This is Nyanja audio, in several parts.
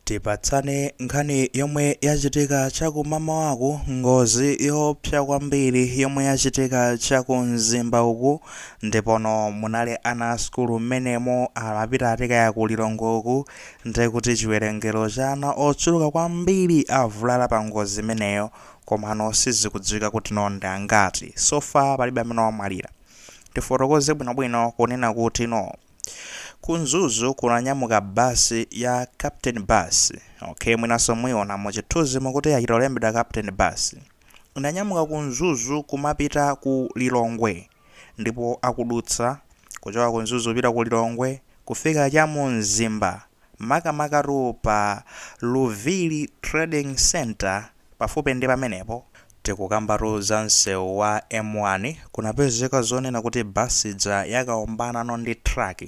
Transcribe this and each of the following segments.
Tipatsane nkhani yomwe yachitika chakumamawaku ngozi yoopsa kwambiri yomwe yachitika chaku mzimba uku ndipono munali ana a sukulu mmenemo amapita ati kaya ku lilongwe uku ndekuti chiwerengero cha ana ochuluka kwambiri avulala pa ngozi imeneyo komano sizikudziwika kuti no ndi angati so far palibe amene wamwalira tifotokoze bwinobwino kunena kuti no Ku Mzuzu kunanyamuka bus ya Captain Bus. Okay, mwinanso muiona mu chithunzimu kuti yachita kulembedwa Captain Bus. Inanyamuka ku Mzuzu kumapita ku Lilongwe ndipo akudutsa kuchoka ku Mzuzu kupita ku Lilongwe kufika cha mu Mzimba makamakatu pa Luviri Trading Center Pafupi ndi pamenepo, tikukambatu za msewu wa M1, kunapezeka zonena kuti bus ija yakawombanano ndi truck.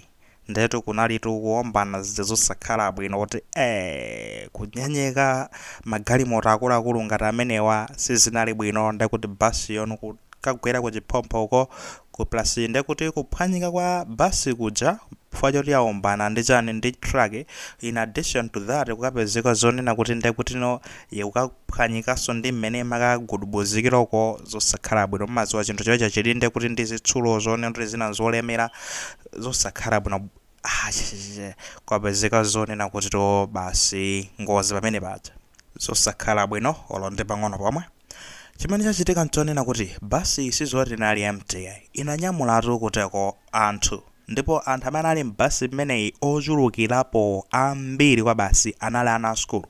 Ndiyetu kunalitu kuwombana zija zosakhala bwino kuti ee! kunyenyeka magalimoto akuluakulu ngati amenewa sizinali bwino ndekuti basiyo n'kukagwera kuchiphompho uko Uku plus ndekuti kuphwanyika kwa bus kuja chifukwa choti yaombana ndi chani ndi truck in addition to that kukapezeka zonena kuti ndekutino ikukaphwanyikanso ndi mmene imakagudubuzikira uko zosakhala bwino mumadziwa chinthu choti chili ndekuti ndi zitsulo zonena kuti zina nzolemera zosakhala bwino kwapezeka zonena kuti no basi ngozi pamene paja zosakhala bwino olo ndi pang'ono pomwe. Chimene chachitika nchonena kuti basiyi sizoti inali empty, inanyamulatu kuteko anthu ndipo anthu amene ali m'basi imeneyi ochulukirapo ambiri kwa basi anali ana a sukulu.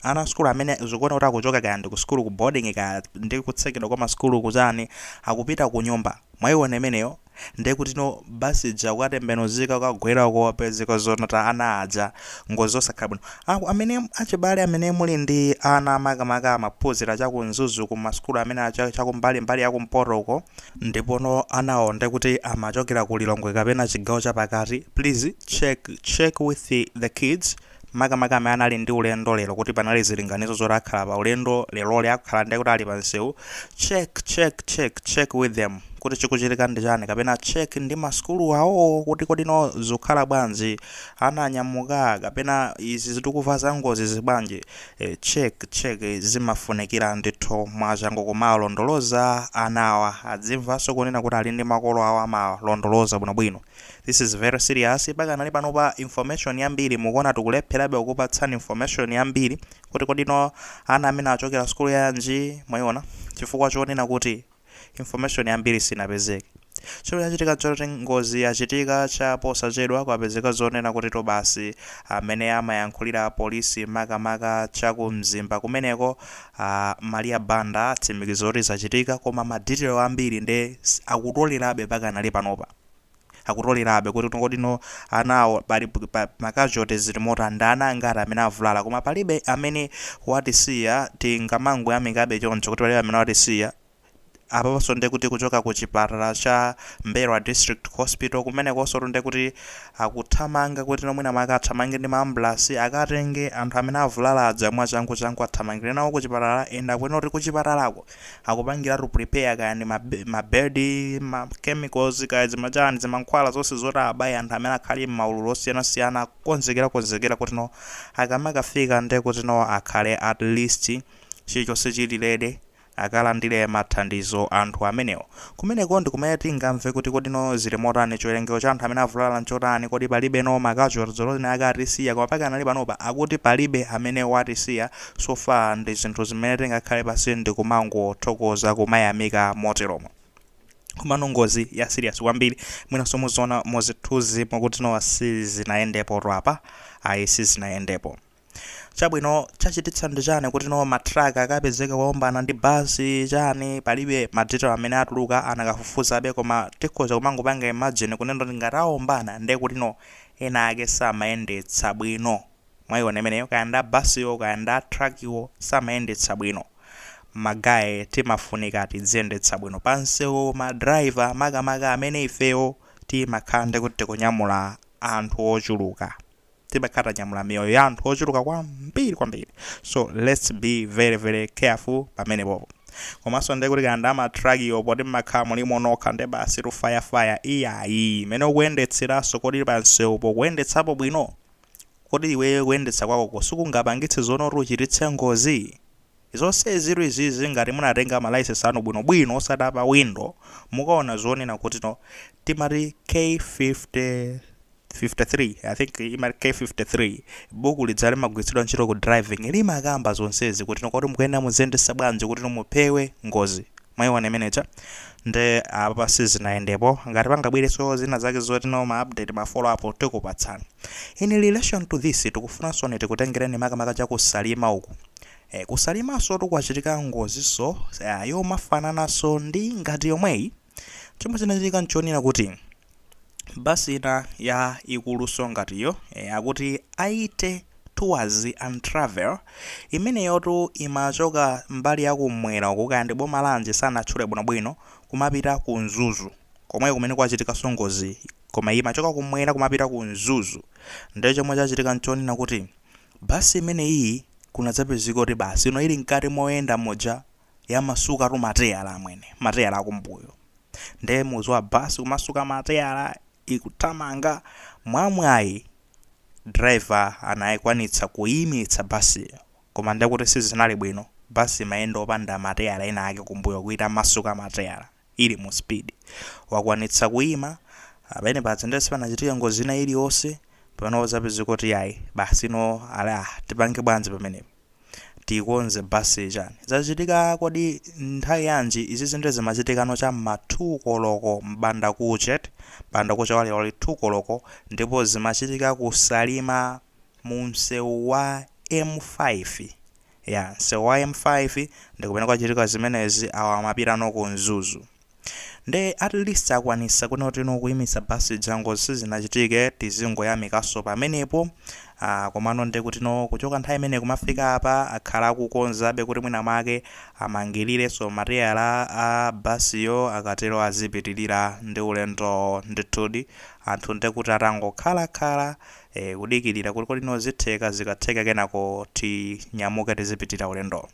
Ana a sukulu amene zikuoneka kuti akuchoka kaya ndi kusukulu ku boarding kaya ndi kutsekedwa kwa masukulu kuchani akupita kunyumba mwaiona imeneyo. ndekutino basi ija kukatembenuzika kukagwera uko kupezeka zonena kuti ana aja ngozi zosakhala bwino Aku, amene achibale amene muli ndi ana makamaka amaphunzira cha ku Mzuzu ku masukulu amene cha kumbali mbali ya kumpoto uko ndipono anawo ndekuti amachokera ku Lilongwe kapena chigawo chapakati please check check with the kids makamaka amene anali ndi ulendo lero kuti panali zilinganizo zoti akhala pa ulendo leroli akhala ndiye kuti ali pa msewu check check check check with them kuti chikuchitika ndi chani kapena check ndi masukulu awo kuti kodi no zikukhala bwanji ana anyamuka kapena izi zi tikumva za ngozi zibwanji e, check check zimafunikira ndithu mwachangu kumawalondoloza anawa adzimvanso kunena kuti ali ndi makolo awo amawalondoloza bwinobwino This is very serious pakanali pano pa information yambiri mukuona tikulepherabe kukupatsani information yambiri kuti kodi ndi ana amene achokera sukulu yanji mwayiona chifukwa chonena kuti information yambiri sinapezeke chimene chachitika choti ngozi yachitika cha posachedwa kwapezeka zonena kuti to basi amene amayankhulira apolisi makamaka cha ku mzimba kumeneko ah, maria banda atsimikiza kuti zachitika koma madetail ambiri nde s- akutolerabe pakanali panopa akutolerabe kuti kodi no anawo pali pa ma casualty zili motani ndi ana angati amene avulala koma palibe amene watisiya tingamangoyamikabe choncho kuti palibe amene watisiya apaponso nde kuti kuchoka ku chipatala cha M'mbelwa District Hospital kumenekonso tu nde kuti akuthamanga kuti no mwina mwake athamange ndi maambulasi akatenge anthu amene avulala aja mwachangu changu athamangire nawo ku chipatala and akunena kuti ku chipatalako akupangiratu prepare kaya ndi mabedi ma chemicals kaya zimachani zimankhwala zonse zoti abaye anthu amene akhali m'maululu osiyanasiyana akukonzekera konzekera kuti no akamakafika nde kuti no akhale at least chilichonse chili ready akalandire mathandizo anthu amenewo Kumeneko ndi kumene tingamve kuti kodi no zili motani, chiwerengero cha anthu amene avulala nchotani, kodi palibe no ma casualties olo ena ake atisiya, koma pakanali panopa akuti palibe amene watisiya, so far ndi zinthu zimene tingakhale pansi ndikumangothokoza, kumayamika moteromo. Komano ngozi ya serious kwambiri, mwinanso muziona muzithunzimo kuti no sizinayendepotu apa, ayi sizinayendepo. chabwino chachititsa ndi chani kuti no matruck akapezeke akuombana ndi basi chani palibe madetail amene atuluka anakafufuzabe koma tikhoza kumangopanga imagine kunena kuti ngati aombana ndiye kuti no ena ake samayendetsa bwino mwayiona imeneyo kaya nda basiwo kaya nda trakiwo samayendetsa bwino magaye timafunika tidziyendetsa bwino pansewu madrayiva makamaka amene ifeyo timakhala ndi kuti tikunyamula anthu ochuluka timakhala tanyamula miyoyo ya anthu ochuluka kwambiri kwambiri so lets be very very careful pamenepopo komanso ndiye kuti kaya nda amatrakiyo poti mmakhala mulimo nokha nde basi tu fayafaya iyayi mmene ukuyendetseranso kodi pansewupo ukuyendetsapo bwino kodi iweyo kuyendetsa kwakoko sikungapangitse zonena kuti uchititse ngozi Zonsezitu izizi ngati munatenga ma license anu bwino bwino osati apa window mukaona zonena kuti no timati k50 53 I think imati k53 buku lija limagwiritsidwa ntchito ku driving limakamba zonsezi kuti no kodi mukuyenera muziyendesa bwanji kuti no mupewe ngozi mwaiona imene ija nde apapa sizinayendepo ngati pangabwireso zina zake zoti no ma update ma follow up tikupatsana in relation to this tikufunansoni tikutengereni makamaka chaku salima uku Eh, ku Salimansotu kwachitika ngozinso eh, yomafanananso ndi ngati yomweyi. Chomwe chinachitika nchonena kuti basi ina ya ikuluso ngatiyo eh, akuti 80 tours and travel imeneyotu imachoka mbali ya kumwera uku kaya ndi boma lanji sanatchule bwinobwino kumapita ku Mzuzu komweko kumene kwachitikanso ngozi koma iyi imachoka kumwera kumapita ku Mzuzu ndiye chomwe chachitika nchonena kuti Basi imeneyi kunadzapezeka kuti basi ino ili mkati moyenda muja yamasukatu mateyala amwene, mateyala akumbuyo. Nde mukudziwa basi kumasuka mateyala ikuthamanga, mwamwayi driver anayikwanitsa kuyimitsa basiyo koma ndekuti sizinali bwino, basi imayenda opanda mateyala ena ake kumbuyo kutamasuka mateyala. ili mu speed wakwanitsa kuima ndiyeno paja ndiye sipanachitike ngozi ina iliyonse pamene pazapezeka kuti yayi basi ino ala tipange bwanji pamenepo tikonze basiyi chani zachitika kodi nthawi yanji izi zinthu zimachitikano cha mma 2 koloko mbanda kuchet mbanda kucha wa lero lero 2 koloko ndipo zimachitika kusalima mu msewu wa M5 Ya, msewu wa M5 ndi kumene kwachitika zimenezi awa amapita no ku Mzuzu nde at least akwanisa kunena kuti no kuyimitsa basi ija ngozi sizinachitike tizingoyamikaso pamenepo ah, komano nde kuti no kuchoka nthawi imene kumafika apa akhala akukonzabe kuti mwina make amangirireso mateyala a basiyo akatero azipitirira ndi ulendo ndithudi anthu nde kuti atangokhalakhala ee kudikilira kuti kodi no zitheka zikatheka kenako tinyamuke tizipitirira ulendo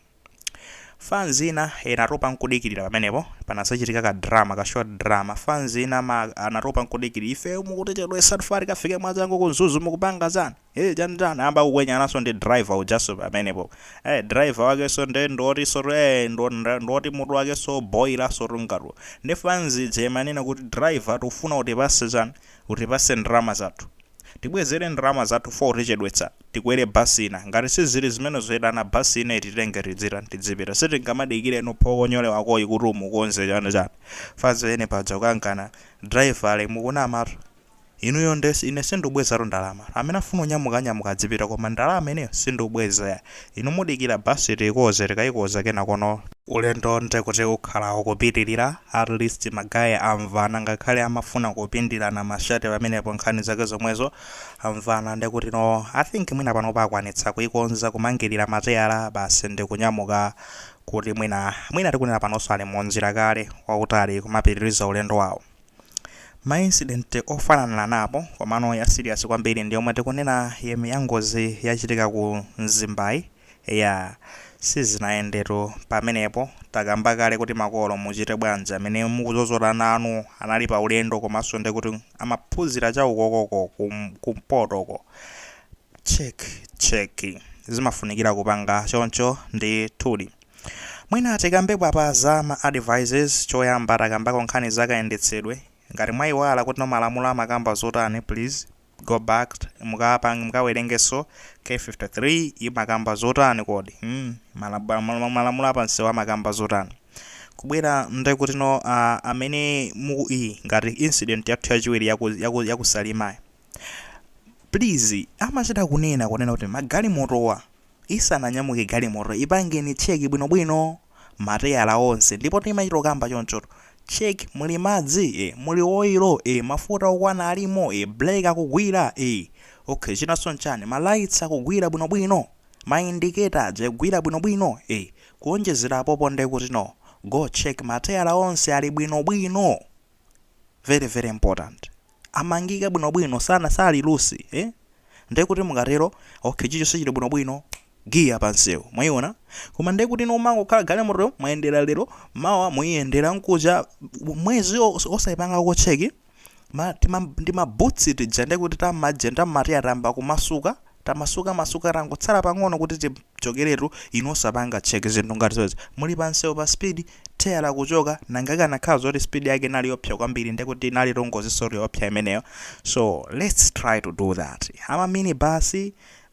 fans ina inatopa nkudikilira pamenepo panazachitika ka drama ka short drama fans ina anatopa nkudikilira ife mukutichedwesa tikufuna tikafike mwachangu ku Mzuzu mukupanga chani ee chani chani ayamba kukwenyananso ndi driver ujaso pamenepo ee driver wakeso nde ndi wotiso ee ndo- ndo- ndoti mutu wakeso boyilaso tu ngati ndi fans ija imanena kuti driver tikufuna utipase chani utipase ndalama zathu Tibwezere ndalama zathu for utichedwetsa, tikwere basi ina. Ngati sizili zimenezo itana basi ina ititenge tidzitani tidzipita. Sitingamadikire no phokonyole wakoyi kuti umukonza chani chani. Fans yake panadza kukangana driver le mukunamatu. Inuyo nde ine sindikubwezatu ndalama. Amene afuna kunyamuka anyamuka adzipita koma ndalama ineyo sindikubweza yayi. Inu mudikira basi tiikonze tikaikonza kenakono. Ulendo nde kuti ukhala ukupitilira, at least ma guy amvana ngakhale amafuna kupindirana ma shirt pamenepo nkhani zake zomwezo, amvana nde kuti no, I think mwina panopa akwanitsa kuikonza kumangilira mateyala basi ndikunyamuka kuti mwina, mwina tikunena panonso ali munjira kale, wautali kumapitiriza ulendo wawo. Ma incident ofananaapo komano ya serious kwambiri ndi yomwe tikunena yem ya ngozi yachitika ku Mzimbayi, eyaa sizinayendetu pamenepo, takamba kale kuti makolo muchite bwanji amene mukuzozoda ana anu anali pa ulendo komanso ndekuti amaphunzira cha ukokoko ku ku mpoto ko, Check check zimafunikira kupanga choncho ndithudi. Mwina tikambepo apa za ma advices choyamba takambako nkhani za kayendetsedwe. Ngati mwaiwala kuti no malamulo amakamba zotani please go back mukawerengenso k53 imakamba zotani kodi malamulo apansewu amakamba zotani. Kubwera nde kuti no ah, amene mu iyi ngati incident yathu yachiwiri yaku yaku yaku Salimayi Please amachita kunena kunena kuti magalimotowa isananyamuke galimoto ipangeni check bwinobwino mateyala onse ndipo timachita kukamba chonchoto check muli madzi ee, muli oilo e, mafuta okwana alimo e, brake akugwira e, okay chinanso nchani ma lights akugwira bwinobwino ma indicator aja akugwira bwinobwino e, kuonjezera apopo nde kuti no go check mateyala onse ali bwinobwino very very important. amangika bwinobwino sana sali loose eh nde kuti mukatero okay chicho sichili bwinobwino giya pa msewu mwaiona koma nde kuti no mmangokhala galimoto mwayendera lero mawa muiyendera mkucha mwezi os- osaipanga ko check ma, tima, ndi mabawuti tija nde kuti tamajenta mati atayamba kumasuka Tamasuka masuka tangotsala pang'ono kuti tichokeretu inu osapanga check zinthu ngati zomwezi muli pa msewu pa speed theyala kuchoka nanga ikanakhala zoti speed yake inali yoopsa kwambiri ndekuti inalitu ngozinsotu yoopsa imeneyo so lets try to do that ama mini bus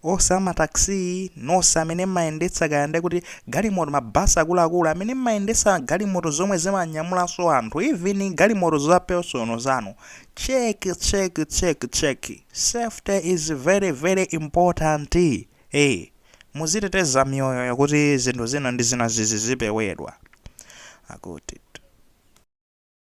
onse ama taxi nonse amene mmayendetsa kaya ndekuti galimoto ma bus akuluakulu amene mmayendetsa galimoto zomwe zimanyamulanso anthu even galimoto za personal zanu check check check check Safety is very very important ee muziteteza miyoyoyo kuti zinthu zina ndi zina zizipewedwa akuti.